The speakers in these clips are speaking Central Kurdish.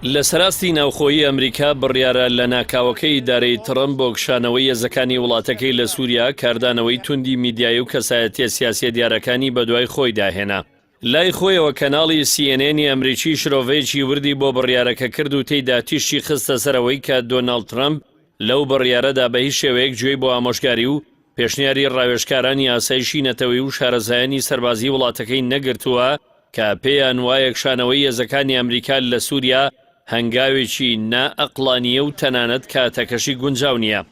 لەسەراستی ناوخۆیی ئەمریکا بڕیارە لە ناکاوەکەی ئیدارەی تڕەمپ بۆ کشانەوەی هێزەکانی وڵاتەکەی لە سووریا کاردانەوەی توندی میدیایی و کەسایەتیە سیاسیە دیارەکانی بەدوای خۆیدا هێنا. لای خۆیەوە کەناڵی سی ئێن ئێنی ئەمریکی شرۆڤەیەکی وردی بۆ بڕیارەکە کرد و تێیدا تیشکی خستە سەر ئەوەی کە دۆناڵد ترەمپ لەو بڕیارەدا بە هیچ شێوەیەک گوێی بۆ ئامۆژگاری و پێشنیاری ڕاوێژکارانی ئاسایشی نەتەوەیی و شارەزایانی سەربازیی وڵاتەکەی نەگرتووە کە پێیان وایە کشانەوەی هێزەکانی ئەمریکا لە سووریا هەنگاوێکی نا ئەقڵانییە و تەنانەت کاتەکەشی گونجاو نییە.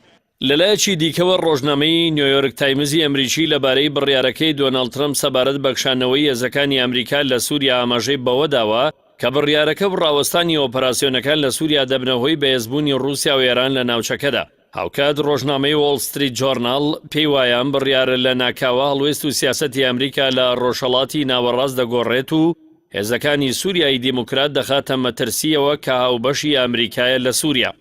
لەلایەکی دیکەوە ڕۆژنامەی نیۆیۆرک تایمزی ئەمریکی لەبارەی بڕیارەکەی دۆناڵد ترەمپ سەبارەت بە کشانەوەی هێزەکانی ئەمریکا لە سووریا ئاماژەی بەوە داوە کە بڕیارەکە و ڕاوەستانی ئۆپەراسیۆنەکان لە سووریا دەبنە هۆی بەهێزبوونی ڕووسیا و ئێران لە ناوچەکەدا. هاوکات ڕۆژنامەی وۆڵ ستریت جۆرناڵ پێی وایە ئەم بڕیارە لە ناکاوە هەڵوێست و سیاسەتی ئەمریکا لە ڕۆژهەڵاتی ناوەڕاست دەگۆڕێت و هێزەکانی سووریای دیموکرات دەخاتە مەترسییەوە کە هاوبەشی ئەمریکایە لە سووریا.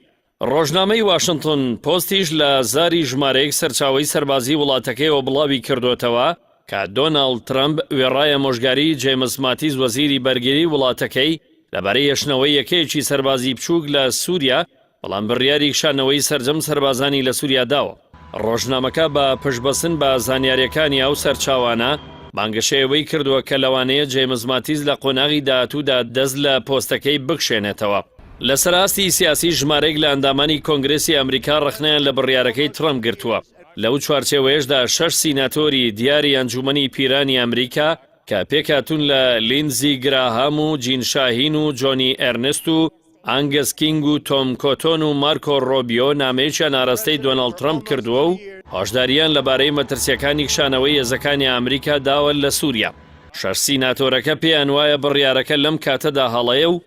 ڕۆژنامەی واشنتن پۆستیش لە زاری ژمارەیەک سەرچاوەی سەربازی وڵاتەکەیەوە بڵاوی کردووەتەوە کە دۆناڵد ترەمپ وێڕای ئامۆژگاریی جەیمس ماتیس وەزیری بەرگریی وڵاتەکەی لەبارەی هێشتنەوەی یەکەیەکی سەربازی بچووک لە سووریا بەڵام بڕیاری کشانەوەی سەرجەم سەربازانی لە سوریا داوە. ڕۆژنامەکە بە پشتبەستن بە زانیارییەکانی ئەو سەرچاوانە، بانگەشەی ئەوەی کردووە کە لەوانەیە جەیمس ماتیس لە قۆناغی داهاتوودا دەست لە پۆستەکەی بکشێنێتەوە. لەسەر ئاستی سیاسی ژمارەیەک لە ئەندامانی کۆنگرێسی ئەمریکا ڕەخنەیان لە بڕیارەکەی ترەمپ گرتووە. لەو چوارچێوەیەشدا شەش سیناتۆری دیاری ئەنجوومەنی پیرانی ئەمریکا کە پێکهاتوون لە لیندزی گراهام و جین شاهین و جۆنی ئێرنست و ئانگس کینگ و تۆم کۆتۆن و مارکۆ ڕۆبیۆ نامەیەکیان ئاراستەی دۆناڵد ترەمپ کردووە و هۆشدارییان لەبارەی مەترسییەکانی کشانەوەی هێزەکانی ئامریکا داوە لە سووریا. شەش سیناتۆرەکە پێیان وایە بڕیارەکە لەم کاتەدا هەڵەیە و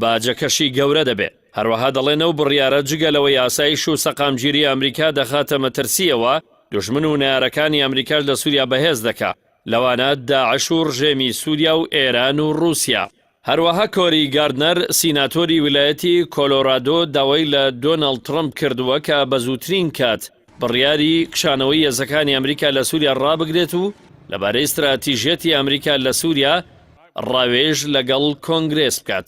باجەکەشی گەورە دەبێت. هەروەها دەڵێن ئەو بڕیارە جگە لەوەی ئاسایش و سەقامگیری ئامریکا دەخاتە مەترسییەوە، دوژمن و نەیارەکانی ئامریکاش لە سووریا بەهێز دەکات، لەوانە داعش و ڕژێمی سووریا و ئێران و ڕووسیا. هەروەها کۆری گاردنەر، سیناتۆری ویلایەتی کۆلۆرادۆ داوای لە دۆناڵد ترەمپ کردووە کە بە زووترین کات بڕیاری کشانەوەی هێزەکانی ئەمریکا لە سووریا ڕابگرێت و لەبارەی ستراتیژیەتی ئەمریکا لە سووریا ڕاوێژ لەگەڵ کۆنگرێس بکات.